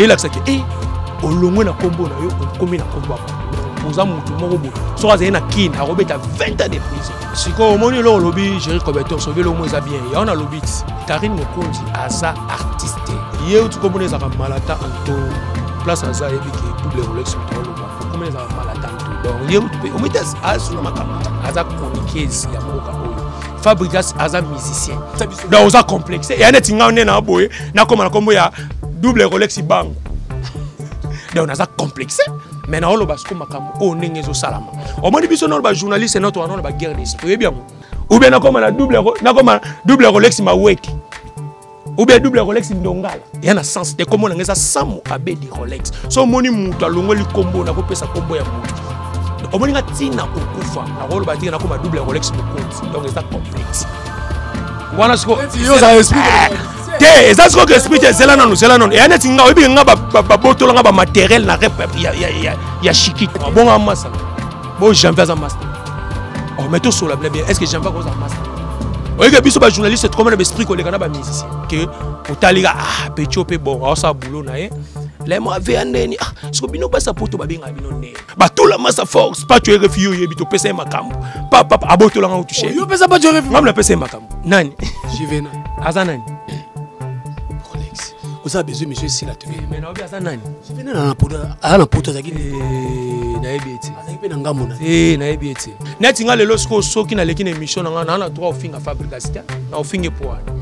elakisa ke e olongwe na nkombo na yo okomi na nkombo ya bato oza motu moko boye soki azali na kin akobeta 20 ans de prison sikoyo omoni eloko olobi géri cobertor soki eloko eza bien yango nalobi ti karine mokonzi aza artiste ye uti komona ezalaka malata anto place aza ayebi ke double rolex moto aloba okoma ezalaka malata anto donc ye mpe omite asuna makambo aza chroniqueuse ya mboka oyo fabrigas aza musicien donc oza complexe eya neti ngai nde na boye nakoma na nkombo ya double rolex bango donc naza complexe mais naoloba siko makambo oyo ndenge ezosalama omoni biso nano bajournaliste noto wana na baguerre des toyebi yango oubien nakoma na double rolex maweki oubien double rolex ndongala ya na sens te kombo nanga eza samu abedi rolex so omoni moto alongoli kombo nakopesa kombo ya moto omoni nga ntina kokufa nakoloba tika nakoma double rolex mokonzi donc eza complexe wana sikoyo te eza sikoyo esprit te zela nanu zela nanu eya neti nga oyebike nga babotola nga bamateriel na rep ya shikit bonga masala bo janvier aza masta oh, mais tosola bla bien est ce que janvier akozala masta oyeke biso bajournaliste tokoma na baesprit koleka na bamusicien ke otalika ah pecho mpe bongo aosala boulot na ye lema vea ndeni ah siko bino basa poto babengaka bino ndeni batola masa force pacho rfi yo oyebi topesa ye makambo papa abotolanga otushe yo pesa pacho rfi ngambo napesa ye makambo nani jivena aza nani rolex oza besoin monsieur esila te eh, mais naobi aza nani jivena na poto aza na poto azaki eh, nayebi ete azaki mpe na ngambo na te eh, nayebi ete neti nga lelo sikoyo soki naleki na émission na nga naa na droit ofinga fabricasita na ofinge poana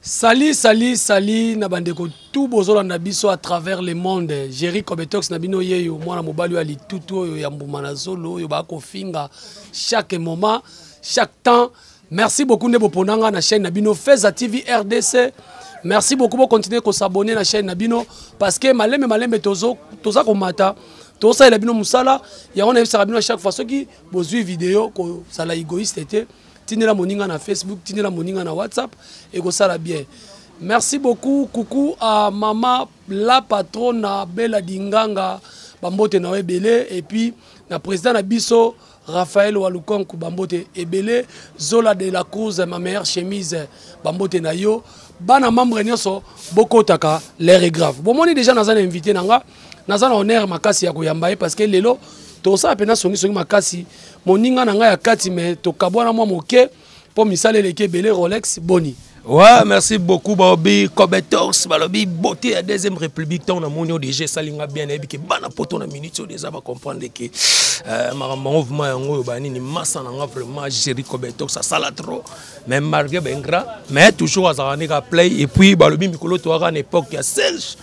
Salut, salut, salut na bandeko tout bozolanda biso à travers le monde. Jerry Kobetox na bino yeyo mwana mobali oyo ya litutu oyo ya mbuma na zolo oyo bakofinga chaque moment, chaque temps. Merci beaucoup nde bopona nga na chaîne na bino Feza TV RDC. Merci beaucoup bo continuer ko s'abonner na chaîne na bino parce que malembe malembe tozo toza komata tosalela bino musala yango na yebisaka bino à chaque fois soki bozui video kozala égoïste te. tindela moninga na facebook tindela moninga na whatsapp ekosala bien merci beaucoup kuku a mama la patrona bela dinganga bambote na yo ebele epuis na président na biso raphael walukonku bambote ebele zola de la cruz ma meilleure chemise bambote na yo bana membre nyonso bokotaka l'air est grave bomoni déjà naza na invité na nga naza na honneur makasi ya koyamba ye parce que lelo tosala mpenza songisongi makasi moninga na ngai ya kati me tokabwana mwa moke mpo misala eleki ebele rolex boni Ouais, merci beaucoup, Bobby. Cobetors, Balobi, beauté la deuxième république, tant on a mon ODG, Salinga bien, et que bana poto na minute, on les a comprendre que euh, ma mouvement yango bani ni massa nanga vraiment gérer Cobetors, ça sala trop. Mais malgré Bengra, mais toujours à Zaranika play, et puis Balobi Mikolo, tu auras une époque, il y a Serge.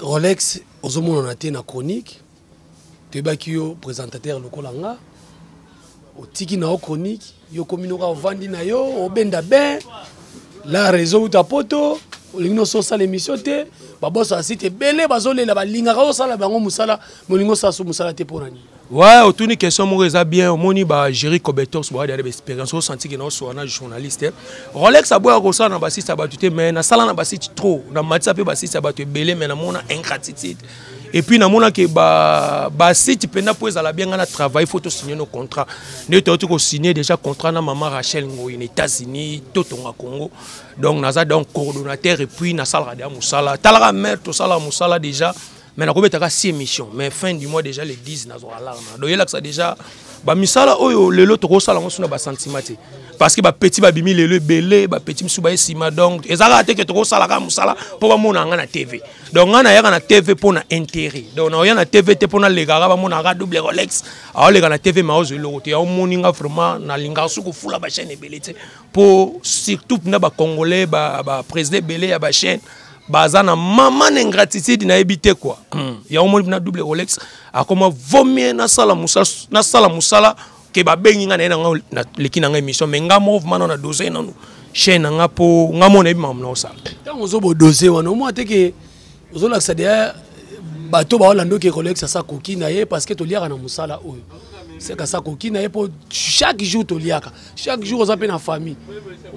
Rolex ozomonana te na chronique toyebaki yo présentateur lokola nga otiki na yo chronique yo okomi noka ovandi na yo obenda ben la réseau uta poto olingi noso osala émission te baboso asite ebele bazolela balingaka osala bango mosala molingi osala so mosala te mpo na nini Ouais, otuni question moko eza bien omoni ba géri cobetors boya deya baexpérience osanti ke naosola na journaliste rolex aboya kosala na basiste ya bato te mais nasala na basite trop na matisa mpe basiste ya bato ebele mais namona ingratitude et puis namonaki basite mpenza mpo ezala bien ngai na travail faut tosigne no contrat nde touti kosigne déjà contrat na mama rachel ngoi na états-unis totonga congo donc naza donc coordonnateur et puis nasalaka deya mosala talaka mare tosalaka mosala déjà mais nakobetaka si émission mais fin du mois déjà le 10 nazwa alarme donc yelakisa déjà bamisala oyo lelo tokosala yango suna basentiment te parce que bapeti babimi lelo ebele bapeti mosusu baye nsima donc eza kaka te ke tokosala kaka mosala mpo bamona yanga na tv donc ngai nayaka na tv mpo na intérêt donc naoya na tv te mpo nalekaka bamonaka double rolex aoleka na tv maozo eloko te yaomoni nga vraiment nalingaka soki kofula bachaîne ebele te mpo surtout na bacongolais baprésident ebele ya bachaîne baza na mama na ingratitude nayebi te kua hmm. yango moni na double rolex akoma vomie nasala mosala nasala mosala ke babengi ngai naye na ngai naleki na ngai émission mais ngai moko vmana na dose nanu chaine na ngai mpo ngai moko nayebi makambo nakosala ntango ozobodose wana omwa te ke ozolakisa deya bato baolanda oke rolex asa koki na ye parce que toliaka na mosala oyo seka asa koki na ye mpo chaque jour toliaka chaque jour oza mpe na famille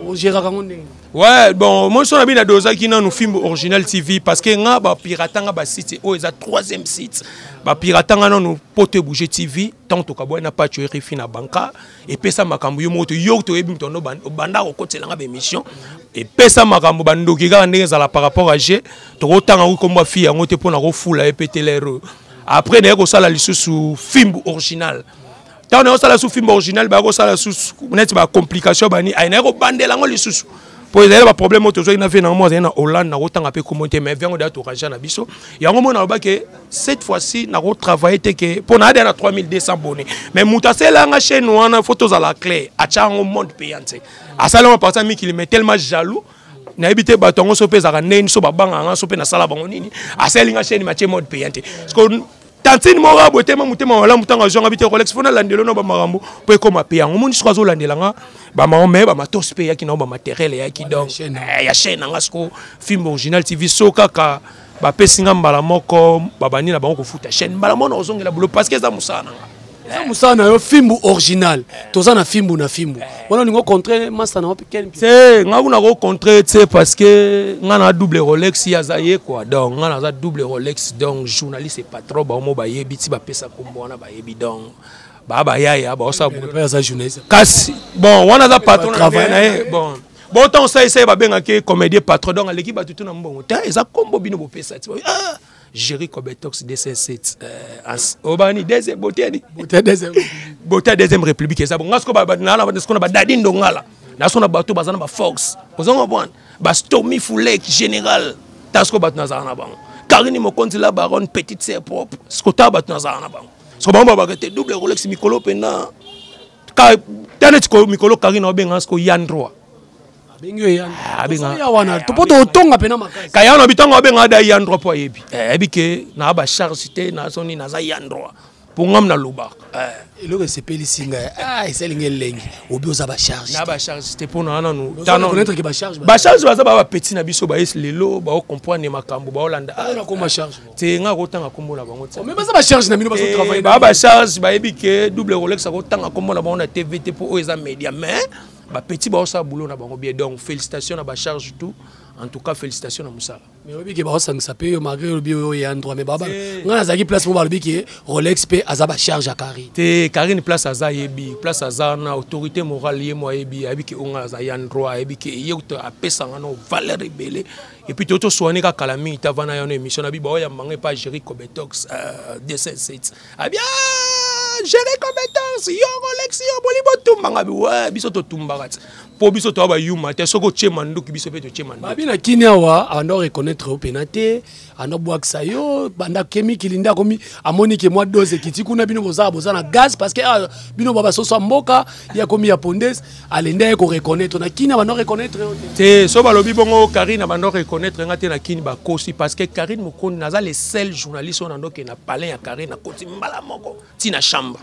ogéraka yango ndenge ouais bon moi so na bino adozaki nanu film original tv parce que nga bapirata nga basite oyo eza troisième site bapirata nga nanu mpo to ebouge tv ntango tokabwai na paco rfi na banka epesa makambo yo moko toyoki toyebi moto ndo obanda kokotela nga baémission epesa makambo bandoki kaka ndenge ezala par rapport à je tokotanga yango nkombo ya fille yango te mpo na kofula ye mpe telere après naye kosala lisusu fimbu original ntango na osala su film original baya kosala susu neti bacomplication bani ai naye kobandela yango lisusu mpo ezali na baproblème oyo tozwaki na vie nango mo azali na hollande nakotanga mpe komo te mais vie yango deya torangea na biso yango moi naloba ke cette fois ci nakotravaille te ke mpo naa deya na 3200 bone mais moto asalela yanga chaine wana fo tozala clair atya yango monde payant te asali yango parti ya mikili mais tellement jaloux nayebi te bato yango so mpe ezalaka ndenge niso babangaka nga so mpe nasala bango nini asali nga chaine matie mode payant te tantine moko abwetema motema malamu ntango azwanga bite rolex mpo nalandelo na bamakambo mpo ekoma mpe yango moni soko azolandela nga bamakambo me bamatos mpe eyaki nango bamateriel eyaki donc ya chaine eh, na nga soko film original tv so kaka bapesi nga mbala moko babandi na bango kofuta chaine mbala moko na kozongela bulo parce que eza mosala na nga eza mosala na yo fimbu original toza na fimbu na fimbu wana olingi ocontre masta na wapi kel te nga kuna kocontre te parce que nga na double rolex ye aza ye kua donc nga naza double rolex donc journaliste patron baomo bayebi ti bapesa kombo wana bayebi donc baa bayaya baosaza journaliste kasi bon wana aza patron na ye bon bon ntango osalisa ye babengaki comédien patron donc aleki bato tu na mbongo te eza kombo bino bopesa ti ah! Jerry Cobetox 207 euh, obani deuxième boteni bota deuxième bota deuxième république eza bonga siko ba na na siko na ba dadi ndongala na siko na bato bazana ba fox ozongo bon ba stomy foulek général ta siko bato nazala na bango Karine Mokonzi la baronne petite sœur propre siko ta bato nazala na bango siko bango ba te double Rolex mikolo pena ka tane siko mikolo Karine obenga siko yandroa abengi oyo yani ah, abenga ya wana to poto otonga pena makasi kaya na bitango abenga da ya ndro po yebi eh bi ke na ba charge te na soni na za ya ndro po ngam na loba eh eloko esepeli singa ah eseli ngel lengi obi oza ba charge na ba charge te po na na no tano ko netre ke ba charge ba charge baza ba petit na biso ba es lelo ba o comprendre makambo ba olanda ah na ko ma charge te nga ko tanga kombo na bango te mais baza ba charge na bino bazo eh, travailler ba ba charge ba yebi ke double rolex ko tanga kombo na bango na tv te po o eza media mais ba petit ba osa boulot na bango bien donc félicitations na ba charge tout en tout cas félicitations na musala mais obi ke ba osa ngisa pe yo malgré obi yo ya droit mais baba nga na zaki place mo ba lobi ke Rolex pe aza ba charge à Carine te Carine place aza yebi place aza na autorité morale ye moi yebi abi ke onga aza ya droit abi ke ye to apesa nga no valeur ebele et puis toto soigner ka kala mingi ta vana ya no émission na bi ba ya manga pa gérer cobetox euh, 207 Abia ah, gérer compétence yo Rolex yo boli botumba ngabi ouais biso to tumbaka po biso to ba yuma te soko che manduki biso pe to che manduki babi na kini awa ando reconnaître au penate ando bwakisa yo banda kemi kilinda komi amoni ke mwa dose kiti kuna bino boza boza na gaz parce que ah, bino baba soso mboka ya komi ya pondes alendaki ko reconnaître na kini abanda reconnaître yo te so balobi bongo karine abanda reconnaître nga te na kini bakosi parce que karine mokondi naza le seul journaliste oyo nandoke na palin ya karine nakoti mbala moko ti na chambre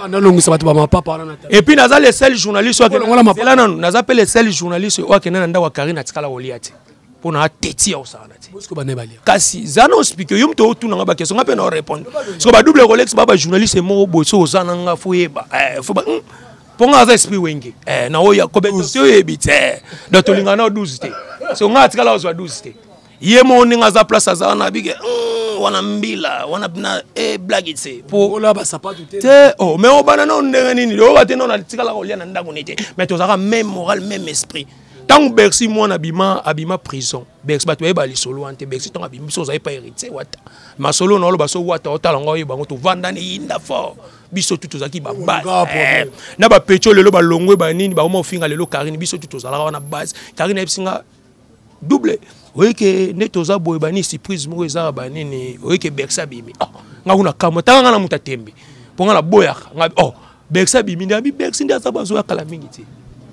nalongisa bato bamapapa wana epuis naza le seul journaliste oyoela nanu naza mpe le seul journaliste oyo akenda na ndako ya karine atikala kolia te mpo na ateti ya kosakana te kasi za na ospike yo moto otuna nga bakestion nga mpe na orépondre soko badouble rolex ba bajournaliste moko boye so oza na nga fo yeba eh, fo ba hmm. mpo ngai aza esprit wenge eh, na oyo kobete oyebi te eh, donc tolingana na 12 te so ngai atikala ozwa 12 te ye moko ndenge aza place aza wana abike hmm, wana mbila wana na e blage te te oh, mais obana nao ndenge nini loyoka te nao natikala kolia na ndako ni te mais tozalaka même moral même esprit ntango bercy mwana abima abima prison bercy bato bayeba lisolo wana te bercy ntango abimi biso ozali pa héritier wata masolo na oloba so wata otala ngo oyeba yango tovandani yinda fort biso tu tozalaki babase eh, na bapeco lelo balongwe banini bakoma kofinga lelo karine biso tu tozalaka wana base karine ayebisi nga double oyeke nde toza boye banini surprise moko ezaka banini oyeke berse abimi oh, nga kuna kamwa tanga nga na moto atembe mpo nga naboyaka nga oh, berse abimi nde abi berse nde aza bazoya kala mingi te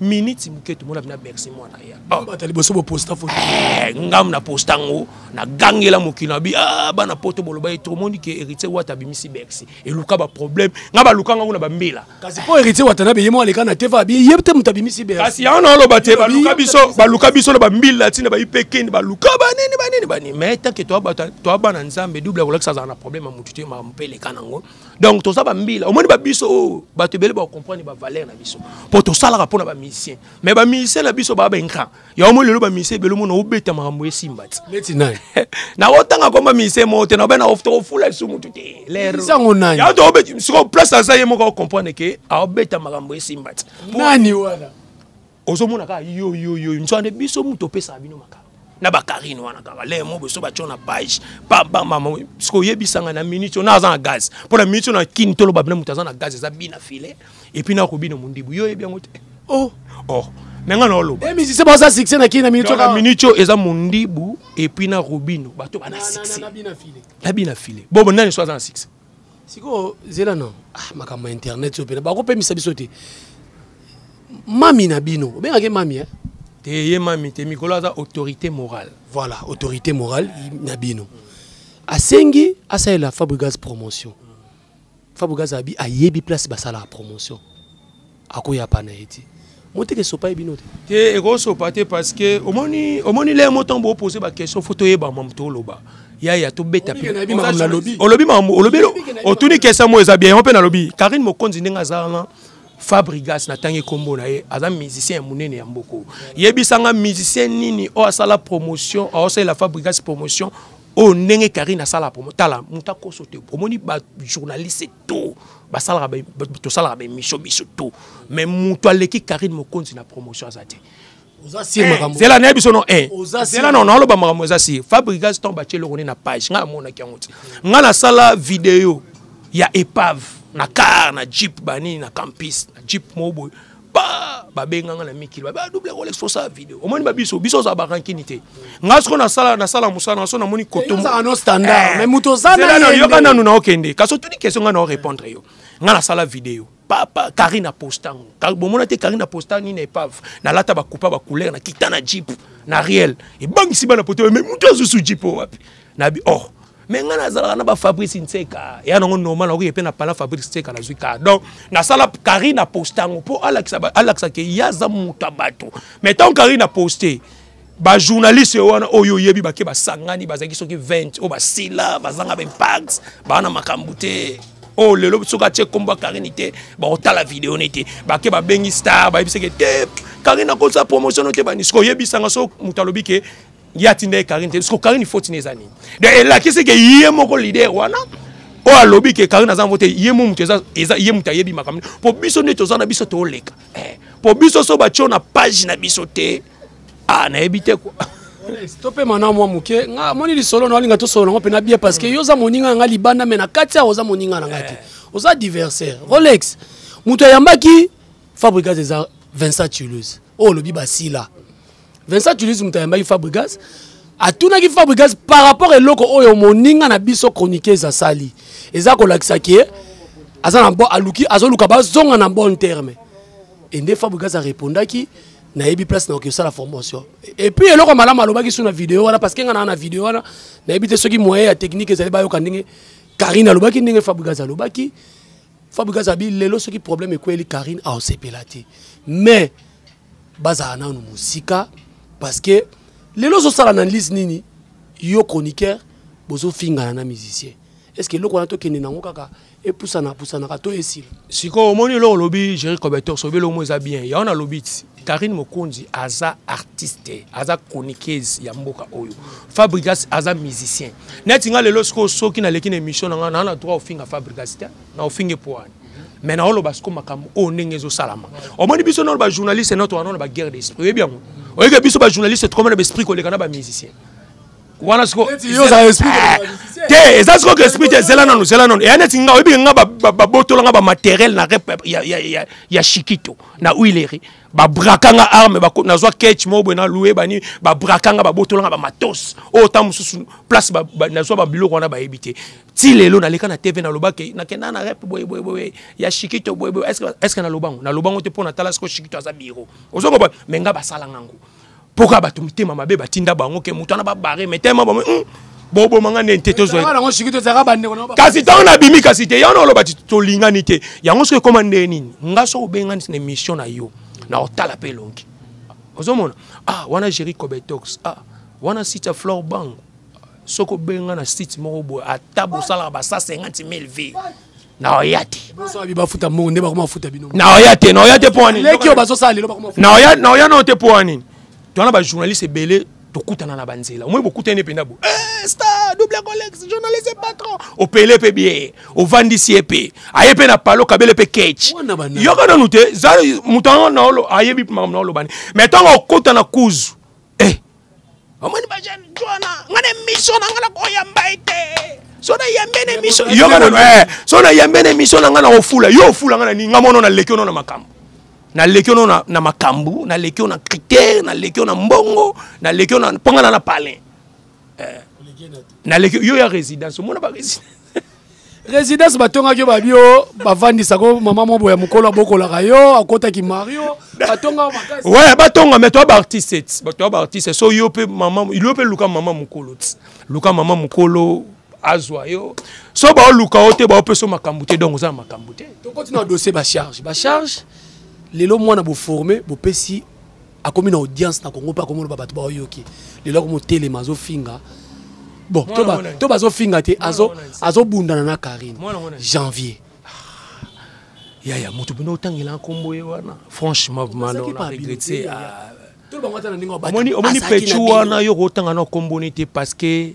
miniti moke tomona bina berse mwana ya oh. bata liboso boposta foto eh, ngam na posta yango nagangela mokili na bi ah, bana poto boloba ye tomoni ke héritier wata abimisi berse eluka ba problème nga ba luka nga kuna ba mbila kasi po héritier watanabe yemo aleka na teva bi yebte muta bimisi be kasi ya na loba te ba luka biso ba luka biso na ba mbila tina ba ipekeni ba luka ba nini ba nini ba nini mais tant que toi ba toi ba na nzambe double ko lakisa za na problème mutu te ma mpele kana ngo donc to za ba mbila omoni ba biso oh, ba te bele ba comprendre ba valeur na biso po to sala ka pona ba musicien mais ba musicien na biso ba ba ingra yango moi lelo bamise ebele omona obeta makambo esimba ti neti nani nakotanga komba mise moko te naobe nakofula lisu motu te lerosango nani yango toobeti sikoyo place aza ye moko akokomprendre ke aobeta makambo esimba ti nani wana ozomona kaka yoyoyo nzwande biso moto opesaka bino makambo na bakarine wana kaka le mo boso batyo na page pabamama sikoyebisanga na minute oyo na aza na gaz mpo na minute oyo na kini toloba bina moto aza na gaz eza bina file et puis na kobina mundibu yo yebi yango te oh oh me nga naoloba emisise eh, baza succès na kini na minute na minute oyo eza mondibu epuis na robino bato bana succès nabi na file bobo nani so aza na succès sikoyo zela na ah, makambo ya internet oyo mpena bakopemisa biso te mami na bino obengaki mami eh? te ye mami te mikolo aza autorité morale voilà autorité morale na bino asengi asalela fabrigas promotion fabu gazabi ayebi place basalaka promotion akoyapa na ye ti moteke esopa ye bino te te ekosopa te parce que omoni omoni leye mo ntango boopose baquestion fo toyeba mamu toloba yaya tobeta olobi mamu olobi otuni kesa mo eza bien yango mpe nalobi karine mokonzi ndenge aza wana fabrigas natangi nkombo na ye aza musicien ya monene ya mboko yebisanga musicien nini oyo asala promotion aosalela fabrigas promotion oyo ndenge karine asala promo tala moto akoso te omoni bajournaliste to basalaka tosalaka baemission biso to mais moto aleki karine mokonzi na promotion aza te eh, zela nayebi biso no eh, zela no naoloba makambo eza sir fabrigas ton batye eloko nde na page ngai amonaki yango te ngai nasala video ya epave na car na jeep banini na campus na jeep moko boye ba babenga nga na mikili ba ah, double rolex fosa video omoni ba biso biso za barankini te nga siko na sala na sala musala na so na moni koto za no standard eh. mais muto za na yo yoka nanu na okende kaso tuni question nga na répondre yo nga na sala video papa Karina Postango bomona te Karina Postango ni na epave na lata ba coupa ba couleur na kita na jeep na réel et bang si bana poto mais muto azusu jeep wapi na bi oh me ngai nazalaka na bafabrice nseka ya nango normal nakoki mpe na pala fabrice nseka nazwi ka donc nasala carine aposta yango mpo alakisa ke ye aza moto ya bato mais ntango carine aposte bajournaliste oyo wana oyo oyebi bake basangani bazalaki soki 20 oyo basila bazanga baimpact baa na makambo te oyo oh, lelo soki atie nkombo ya karine te bakotala video ne te bake babengi star bayebiseke te karine akosa promotion no te banisiko oyebisanga so moto alobi ke ye atinda ye karine te siko karine foti na eza nini de elakisi ke ye moko lider wana oyo alobi ke karine aza vote ye mo moto eza ye moto ayebi makambo mpo biso nde toza na biso toleka mpo eh, biso so batyo na page na biso te ah nayebi te kua topema na mwa moke nga moni lisolo na olinga tosolo nango mpe na bie parce que yo oza moninga na ngai libanda me na kati awa oza moninga na ngai te eh. oza diversaire rolex moto ayambaki fabrigas eza vincent tuluse oyo olobi basila Vincent Tunis moto ayambaki Fabregas atunaki Fabregas par rapport eloko oyo moninga na biso chroniqueuse asali eza kolakisa ke aza na bon aluki azoluka bazonga na bon terme et nde Fabregas arepondaki nayebi place nakoki kosala formation epuis eloko malamu alobaki su na video wana parce que nga naa na video wana nayebi te soki moyen ya technique ezali bayoka ndenge karine alobaki ndenge Fabregas alobaki Fabregas abi lelo soki problème ekweli karine aosepela te mais bazala nanu mosika parce que lelo ozosala analyse nini yo chroniqueur bozofingana na musicien est ce que eloko wana tokende nango kaka epusana pusanaka to esila sikoyo omoni eloko olobi géri coberteur sobi eloko mo eza bien yango nalobi ti karine mokonzi aza artiste aza chroniqueuse ya mboka oyo fabrigas aza musicien neti nga lelo sikoyo soki naleki na émission na nga naa na droit ofinga fabrigas te na ofinge poani mais naoloba siko makambo oyo ndenge ezosalama omoni biso nano bajournaliste nato wana na baguerre d'esprit oyebi yango oyeke biso bajournaliste tokoma na baesprit koleka na bamusicien wana siko eh, te eza siko ke esprit te zela nanu zela nanu eya neti nga oyebike nga babotola nga bamateriel na rep ya shikito na huileri babraka nga arme nazwa ketch moko boye nalue bani babraka nga babotola nga bamatos oyo ntango mosusu place nazwa babiloko wana bayebi te ti lelo naleka na tv naloba ke nakenda na rep boyeboyeboye ya shikito boyeboye estce naloba yango naloba yango te mpo natala siko shikito aza biro ozo koba me nga basala ngango mpo kaka bato mitema mabe batinda bango ke moto wana babare me tema bamo hmm, boboma nga nde te tozwakasi ntango nabimi kasi te yango oloba ti tolingani te yango soki ekoma ndenge nini nga soki obengani na émission na yo na otala mpe elongi ozomona ah wana géri cobetox ah wana sita flore bango soki obengi nga na site moko boye ata bosalaka ba 150 000 vie naoya te bafuta mbongo nde bakoma bafuta bino naoya te naoya te mpo ya ninileki oyo bazosala lelo bakoma naoya naoya nao te mpo ya nini towana bajournaliste ebele tokutana na banzela omoi bokutani mpenza bo eh, star double colex journaliste patron opele mpe bie ovandisi ye mpe aye mpe na palo kabele mpe kech yoka nanu te moto yango naolo ayebi makambo naolobani mai ntango okota na kuzu omoni bajane jwana nga na emission na nga na koyamba ye te so nayambe na emission yoka nano eh, so nayambe na emission na nga na ofula yo ofula nga na nini nga mono naleki ono na makambo naleki ono na makambo naleki ono na critère naleki ono na mbongo naleki ono mpo nga na na palin eh. naleki yo ya résidence omona ba résidence résidence batongaki yo babi yo bavandisa ko mama mobo ya mokolo abokolaka yo akotaki mario batonga makasi ouais batonga mais toi baartiste ti toi baartiste so yo mpe mama yo mpe luka mama mokolo ti luka mama mokolo azwa yo so baoluka yo te baopesa yo makambo te donc oza na makambo te tokoti na dossier bacharge bacharge lelo mwana boforme bopesi akomi na audience na congo mpe akomona ba bato baoyoki lelo akomi otelema azofinga bon to bazofinga te azobundana na karine janvier yaya moto bino otangela nkombo ye wana franchement maloregrete omoni petu wana yo kotanga na nkomboni te parce que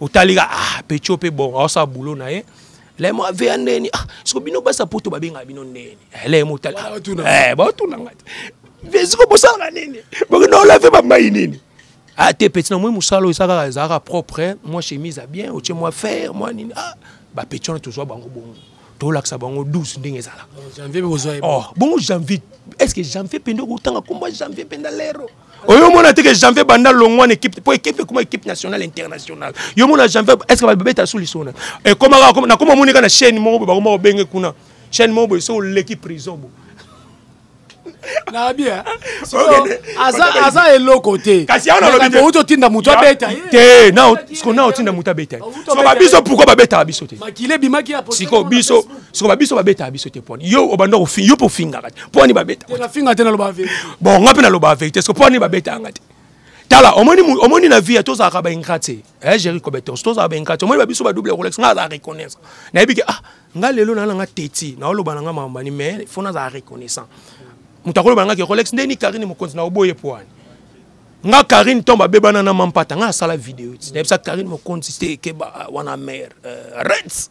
otalika ah pecho pe bon aosa boulot na ye lemo aveya ndeni ah siko bino basa poto babengaka bino ndeni eh, lemo otala eh, baotuna nga te vesiko bosalaka nini bokinolave bamai nini ah te peti na moi mosala oyo esaka ezalaka propre mwa chemise ya bien otie mwa fer mwa nini ah bapeti wana tozwa bango bongo tolakisa bango 12 ndenge ezalaka oh, bongo janvier est ce que janvier mpe nde okotanga kombo janvier mpe nda lero oyo omona te ke janvier banda longwa na équipe mpo équipe ekoma équipe nationale internationale yo omona janvier est ce que babeta sous lisona ekomaka eh, nakoma omoni kaka na chaîne moko boye bakoma kobenge kuna chaîne moko boye so oleki prison bo nabi aza eloko te kasi awa nalobi outi otinda moto abeta te siko na otinda moto abeta siko babiso pourkui babetaka biso te siko biso soko babiso babetaka biso te poni yo obanda kofinga yo mpe ofingaka te poni babetafinga te naloba verité bon nga mpe naloba verité soko poni babetaka nga te tala omoni omoni na vie tozalaka baingra te eh jeri cobetos tozalaka baingra te omoni babiso badouble rolex nga azala reconnaissant nayebi ke ah nga lelo naa nanga teti naoloba na nga mamambani mais fo nazala reconnaissant moto akoloba na nga ke rolex nde ni karine mokonzi na oboye po wani nga karine ntombo abebana na mampata nga asala video ti nayebisa karine mokonzi te ekeba wana mare euh, reds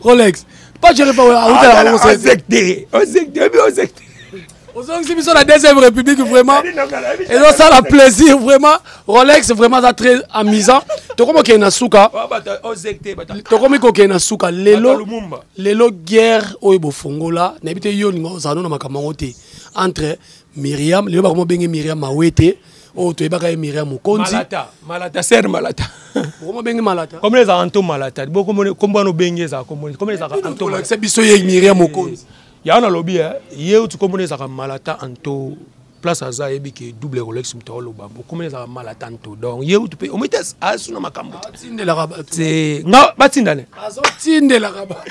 rolex pas jere pa autala bango ozekte ozekte oyebi ozekte ozongisi biso na deuxième république vraiment ezosala plaisir vraiment rolex vraiment aza très amusant tokomi kokende na suka tokomi kokende na suka lelo lelo guerre oyo bofongola nayebi te yo olinga ozala no na makambo yango te entre miriam lelo bakoma obenge miriam mawe te oyo oh, toyebaka ye miriam mokonzi malata malata ser malata okoma obenge malata komona ezalaka nto malata bokombo wana obenge ezalaka komona komona ezalaka ntoolakisa biso ye miriam mokonzi eh, yango nalobi eh, ye uti komona ezalaka malata anto place aza ayebi ke double rolex moto aoloba bokomona ezalaka malata nto donc ye uti mpe omoi te asuna makambo te nga batindane azotindelaka bato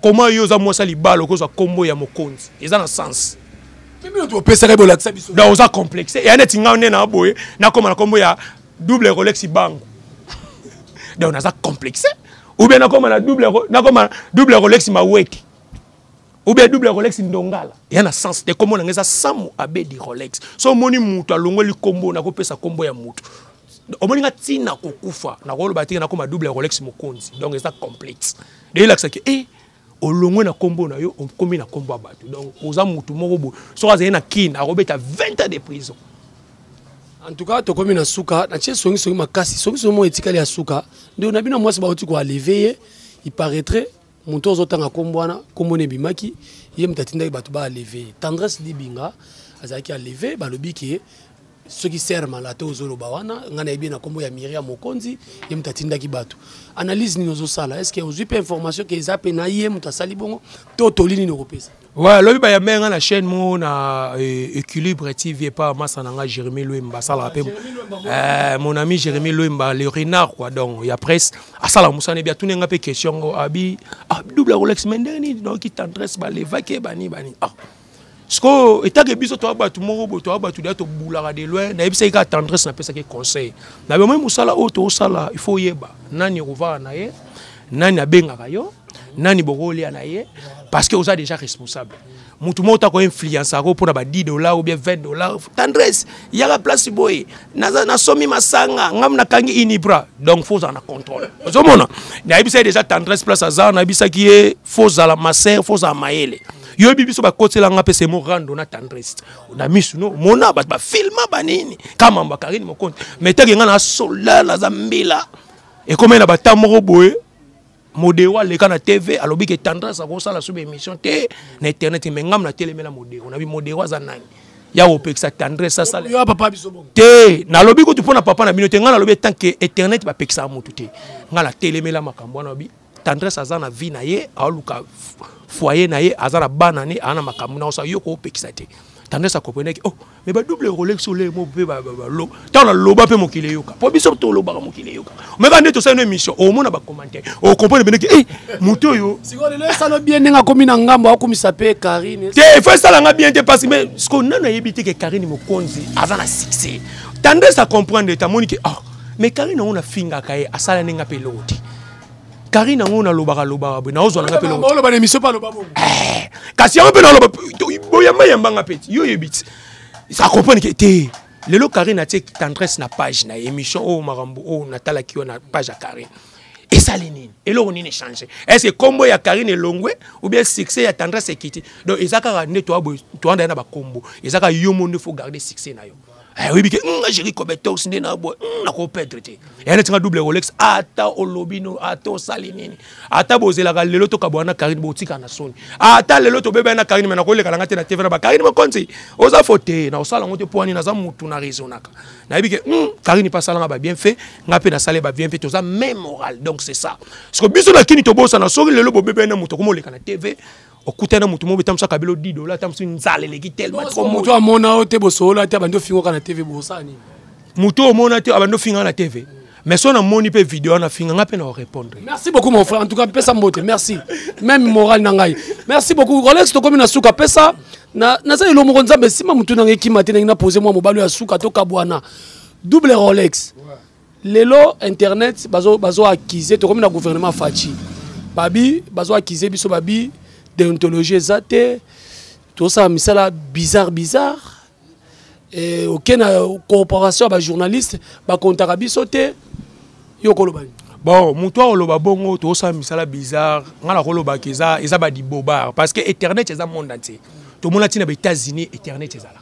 koma yo oza mwasi ya libala okozwa nkombo ya mokonzi eza na sens opesaka bolakisa biso donc oza complexe eya neti ngai nde na boye nakoma na nkombo ya double rolex bango donc naza complexe ou bien nakoma na double nakoma double rolex maweke ou bien double rolex ndongala eya na sens te nkombo na ngai eza samu abedi rolex so omoni moto alongoli nkombo nakopesa nkombo ya moto omoni nga ntina kokufa nakoloba teke nakoma double ya rolex mokonzi donc eza complexe deyelakisaki e eh, olongwe na nkombo na yo okomi na nkombo ya bato donc oza motu moko boye soki azali na kine akobeta 20 ans de prison en tout cas tokomi na suka natie songisongi makasi songisongi moko etikali ya suka nde na bino mwasi bauti koaleve ye il paraîtrait moto ozotanga nkombo wana nkombo na ebimaki ye moto atindaki bato baaleve tendresse libinga azalaki aleve balobi ke soki ser malate ozoloba wana ngai nayebi na nkombo ya miria mokonzi ye moto atindaki bato analyse nini ozosala estce ozwi mpe information ke eza mpe na ye moto asali bongo to toli nini okopesa Ouais, lobi ba yambe nga na chaîne mo na euh, équilibre TV pas massa na nga Jérémy Louemba sala pe euh, mon ami Jérémy Louemba le renard quoi donc ya presse asala musane bia tune nga pe question ngo abi ah double Rolex mendeni donc qui tendresse ba levake bani bani ah sikoyo etake biso toya bato moko boye toya bato deya tobulaka de loin nayebisaki kaka tendresse napesaki conseil na bomoi mosala oyo toosala ifo oyeba nani okovaka na ye nani abengaka yo nani bokolia na ye parce que oza déjà responsable motu moko tako influence ako mpona ba 10 dollar ou bien 20 dollar tendresse yaka place boye nasomi masanga ngam nakangi inibra donc fo ozala na contrôle ozomona nayebisaki déjà tendresse place aza nayebisaki ye fo ozala masere fo ozala mayele yoyebi biso bakotela nga mpe semo rando na tendresse na misu no mona bato bafilma banini kamamba karine mokonzi metaki ngai na sola naza mbila ekomeli na bata moko boye modero aleka na tv alobi ke tendresse akosala sobe émission te na internet me ngam natelemela modero nabi modero aza nani ya kopekisa tendresse asalate nalobi kutu mpo na papa na bino te ngai nalobi etanke internet bapekisaka motu te ngai natelemela makambo wana obi tendresse aza na vie na ye aoluka foyer na ye aza na bana ne aza na makambo na osa yo koopekisa te tendresse akomprenaki oh mais badouble rolex ole mo mpe balo ntango naloba mpe mokili eyoka mpo biso tolobaka mokili eyoka omeka nde tosali no émission omona bacommentaire okomprene mpeneki e moto oyo esala bien ndenge akomi na ngambo akomisa mpe karine te fo esalanga bien te parce mais siko nano ayebi te ke karine mokonzi aza na succès tendresse acomprendre te amoni ke oh mais karine yango nafingaka ye asala ndenge mpe eloko te Karine yango nalobaka lobaka boye naozwa nanga mpe oloba na emission mpe aloba bongo eh, kasi yango mpe naloba boyamba yamba nga mpe yo oyebi ti sa comprendre ke te lelo Karine atie tendresse na page na émission oyo oh, makambo oyo oh, natalaki yo na page ya Karine esali nini eloko nini echange estce kombo ya karine elongwe ou bien succès ya tendresse ekiti donc eza kaka nde toanda ye na bakombo eza kaka yo mo nde fo garde succès na yo eh, oyebi ke nga jeri cobetox nde na boye nakopedre te ya neti nga double rolex ata olobi no ata osali nini ata bozelaka lelo tokabwana na karine botika na soni ata lelo tobebani na karine me nakolekala nga te na tv na bakarine mokonzi oza fo te na osala yango te mpo ani naza motu na raisonaka nayebi ke hmm, karine mpe asalanga babien fait nga mpe nasale babien fait toza même moral donc c'est ça siko biso na kini tobosana soki lelo bobebani na moto akomoleka na tv okutani na moto moko etambwisa kabelo 10 dola atambwisi nzala eleki telmoto amona yo te bosolola te abandi ofingoka na tv bosala nini moto oyo omona te abandi ofinga na tv mm. mais so namoni mpe video wana finga ngai mpe na orépondre merci beaucoup mon frère en tout cas pesa mbote merci même moral na ngai merci beaucoup rolex tokomi na suka pesa naza elo moko nzambe nsima motu na ngai ekima te ndenge na pose mwa mobali oyo ya suka tokabwana double rolex ouais. lelo internet bazo bazo accuser tokomi na gouvernement Fatshi babi bazo accuser biso babi déontologie eza te tosala misala bizarre bizarre e, oke na cooperation ya bajournaliste bakontaka biso te yo okoloba nini bon moto akoloba bongo tosala misala bizarre ngai nakolobaka eza eza badibobare parce que internet eza monde entier tomona ntina ba états-unis internet ezalaka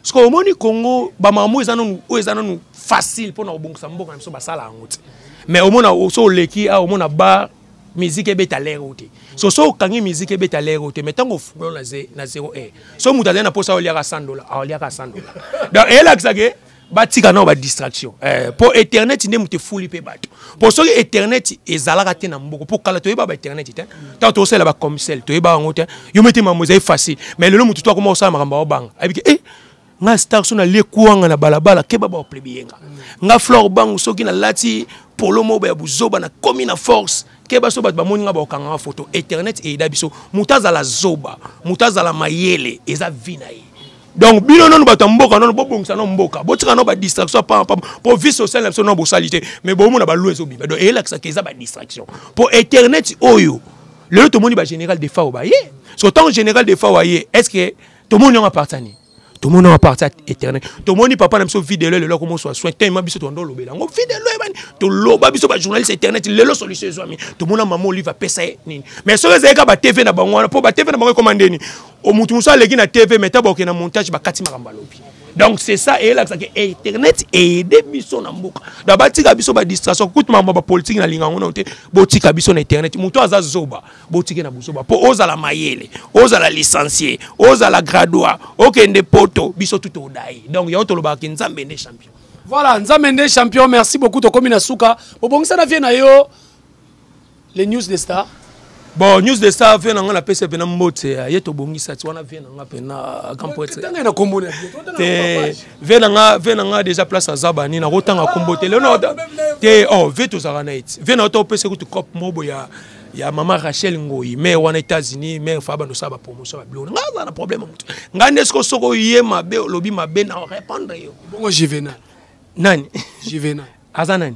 sikoyo omoni congo bamamo eza nanu oyo eza nanu facile mpo na kobongisa mboka na biso basala yango te mais omona so oleki awa omona bar miziki ebeta lere oyo te so so okangi miziki ebeta lere oyo te mai ntango ofungoli na zero air so moto azali na mposa aoliaka 100 dola aoliaka 100 dola donc eyelakisake batika nao badistraction eh, mpo internet nde moto efuli mpe bato mpo soki internet ezalaka te na mboko mpo kala toyeba ba internet te ntango tokosalela bacomsel toyeba yango te yo mete mambo ezali facile mais lelo motu to akoma kosala makambo aobanga ayebike e eh, nga star so nalie kuanga na balabala keba baoplebiyenga nga flore bangu soki nalati polo moba ya buzoba nakomi na force keba so bato bamoni nga baokanganga foto internet eyeda biso moto azala zoba moto azala mayele eza vi na ye donc bino nanu bato ya mboka nanu bobongisa nao mboka botika nao badistraction pampa mpo vie sociale na biso nao bosali te mais bomona balue ezobima donc eyelakisaka eza badistraction mpo internet oyo lelo tomoni bagénéral de fao baye so ntango général de fao aye est ce que tomoni yango apartani tomoni yango aparti éternel tomoni papa na biso videlo lelo akomoswa soin tellement biso tondo olobela yango videlo ebani toloba biso bajournaliste internet lelo solution ezwami tomona mama olive apesa ye nini mais soki ezalaki ka batv na bango wana mpo batv na bango ekoma ndeni o mutu mosusu aleki na tv mais ntango bakokende na montage bakati makambo alobi donc c'est ça eyelakisa ke internet eyede biso na mboka donc batika biso badistraction kutu makambo ya bapolitiki na linga yango nano te botika biso na internet moto aza zoba botike na bozoba mpo ozala mayele ozala licencie ozala gradua okende poto biso tuto odai donc yango tolobaka ke nzambe nde champion voilà nzambe nde champion merci beaucoup tokomi na suka bobongisa na vie na yo le news de star bon news de star vie na nga napesa mpena mbote ya ye tobongisa ti wana vie na nga mpena grand poetre te vie na nga vie na nga déjà place aza bani nakotanga kombo te lelo te o oh, vie tozalaka na ye ti vie na yo topesa kutu cop mobo ya ya mama rachel ngoi mare wana états-unis mare fa bando osala bapromotion ya biloko ngai aza na problème motu ngai nde siko soki oye mabe olobi mabe na orépondre yo bongo juvenal nani juvenal aza nani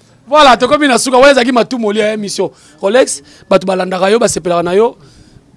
voilà tokomi na suka wana ezalaki matumoli ya émission rolex bato balandaka yo basepelaka na yo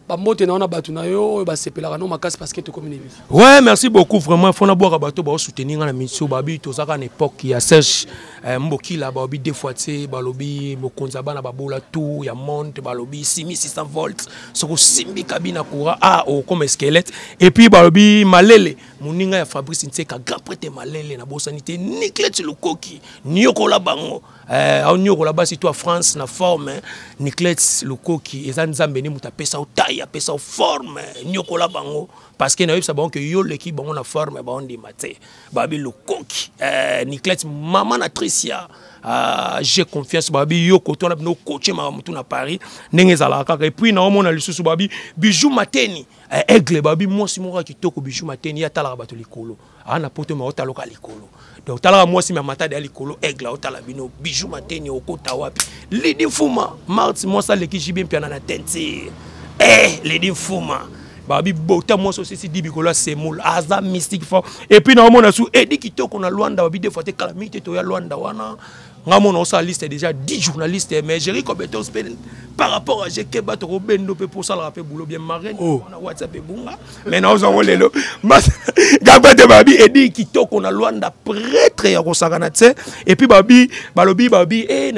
bambote na yo na bato na yo oyo basepelaka no makasi parce que tokomi na émission ouais merci beaucoup vraiment fo nabwaka bato baosoutenir nga na misio babi tozalaka na époque ya serge eh, mbokila balobi deux fois te balobi mokonzi ya bana babola tour ya monde balobi simi 600 volts soki osimbi kabina courant ah okoma esquelette et puis balobi malele moninga ya fabrice nseka grand prete malele na bosani te niclet lukoki niokola bango eh, aoniokola basi to ya france na forme niclet lukoki eza nzambe nde moto apesa yo tai apesa yo forme niokola bango parce que nayebisa bango ke yo oleki bango na forme baondima te babi lukoki eh, niclet mama na tricia Uh, j'ai confiance babi yo koto wana bino koce makambo tu na paris ndenge ezalaka kaka epuis naomona lisusu babi bijou mateni eh, aigle babi mwasi moko ya kitoko bijou mateni ye atalaka bato likolo aa na poto me otaloka likolo donc otalaka mwasi me matadi ya likolo aigle aotala bino bijou mateni okota wapi lidi mfuma marti mwasi aleki jibi mpiana na tentire eh, lidi mfuma babi bota mwasi osisi di bikolo ya semoul aza mystique fort epuis naomona su edi kitoko na lwanda babi defo te kala mingi te toya lwanda wana nga mona osala liste déjà 10 journaliste eh, mais jeri kobete ospele par rapport à jeke bato kobendo mpe mpo osalaka mpe boulot bien marraine oh. na whatsapp ebunga mais naozwa ngo lelo gabate babi edi kitoko na lwanda pretre ya kosakana tse epuis babi balobi babi eh,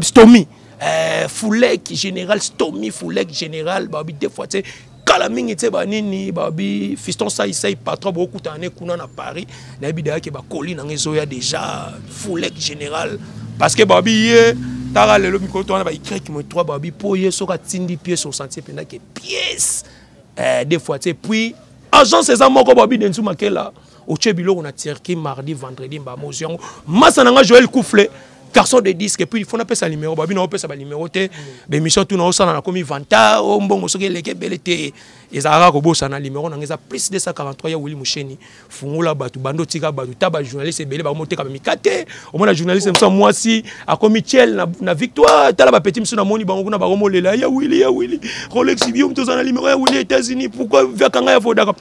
stomi eh, foulek général stomi foulek général babi deux fois tse kala mingi tse ba nini ba bi fiston sai sai patron bo kuta ne kuna na paris na bi dayake ba colis na ngezo ya déjà foulek général parce que ba bi ye tara lelo mikolo to wana ba ikrek mo trois ba bi po ye soka tindi pièce au sentier penda ke pièce euh, des fois tse puis agence eza moko ba bi denzu makela otie biloko na turquie mardi vendredi mbama ozwi yango masa na ngai joel couffle garçon de disque puis il faut napesa numéro babi na opesa banuméro te bemission tuna osala nakomi vanta o oh, mbongo soki eleki ebele te ezalaka kobosana numéro nanga eza plus 243 ya wili musheni fungola bato bando tika bato ta bajournaliste ebele bakomoteka bamika te omona journaliste mosa mwasi akomi tiel na, na victoire tala bapeti mosusu namoni bango kuna bakomolela ya wili ya wili rolex bio moto oza na numéro ya wili états-unis pourquoi viakanga ya vodaka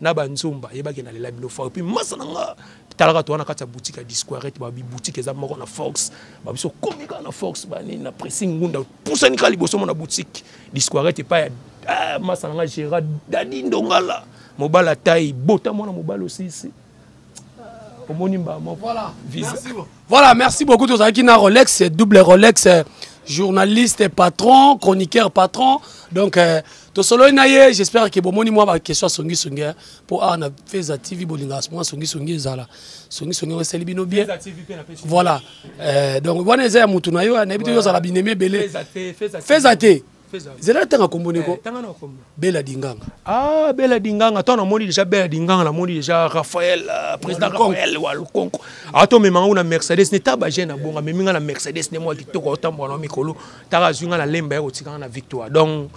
na ba nzomba yebaki na lela bino fort puis masa na nga talaka to wana kati ya boutique ya disquarete ba bi boutique eza moko na fox ba biso komika na fox ba nini na pressing ngunda pusani kali boso mona boutique disquarete pa ya ah, masa na nga gera dadi ndongala mobala tai bota mwana mobala osisi ah, omoni mbama voilà. visa Voilà, merci beaucoup. Tous qui na Rolex, double Rolex, euh, journaliste, patron, chroniqueur, patron. Donc, euh, tout solo naye, j'espère que bon moni moi ma question songi songi hein. pour arna feza TV bolinga moi songi songi zala. Songi songi on seli bino bien. Voilà. Euh, donc voilà, c'est mutu na yo, hein. na bito yo zala bineme belé. Feza te, feza te. zela atanga kombo ndeko eh, bela dinganga ah bela dinganga ntango namoni deja bela dinganga namoni deja raphael euh, président raphael wa lukonko atomema yango na mercedes ne ta bagene na bongo amemi ngai na mercedes nde mwa kitoko aotambola na mikolo taka azwi ngai na lemba ya kotikanga na victoire donc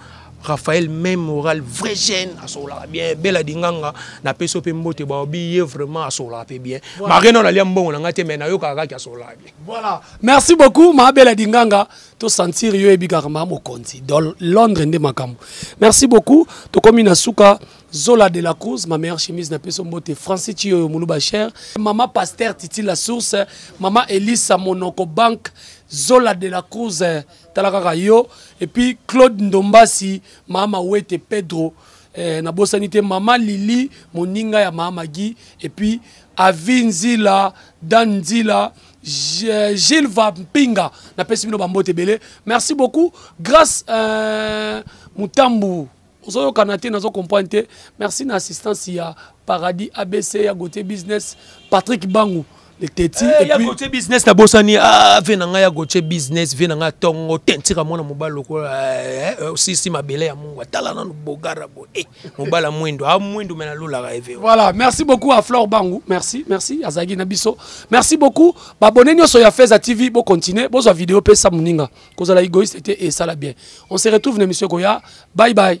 raphael même moral vrai jeune asololaka bien bela dinganga napesi yo mpe mbote baobi ye vraiment asololaka mpe bien marena nalia mbongo na ngai te mai nayokaka kaki asololaka bien voilà merci beaucoup maa bela dinganga to sentir yo yebi kaka ma mokonzi dans Londres nde makambo merci beaucoup tokomi na suka Zola de la Cruz, ma meilleure chemise na peso mbote, Francis Chiyo Muluba Cher, Maman Pasteur Titi la Source, Maman Elisa Monoko Bank, Zola de la Cruz, Talakaka Yo, et puis Claude Ndombasi, Maman Wete Pedro, eh, na bosani te Maman Lili, moninga ya Maman Guy, et puis Avinzila, Danzila, Gilles Vampinga, na pesi bino bambote ebele. Merci beaucoup. Grâce euh, Mutambu, ozo kanate nazo comprendre te. Merci na assistance ya Paradis ABC ya Gauthier Business, Patrick Bangu. le teti hey, eh, ya gotie business nabosani ah, ve na ngai ya gotie business ve na ngai tongo te ntika mwana mobali lokola eh, eh, osisi mabele ya mungu atala nanu bogara bo eh. mobala mwendo a mwendo me nalolaka ye veo voilà merci beaucoup à flore bangu merci merci azalaki na biso merci beaucoup babone nyonso ya feza tv bocontinue bozwa video mpe sa moninga kozala egoïste te esala bien on se retrouve na émission ekoya bye bye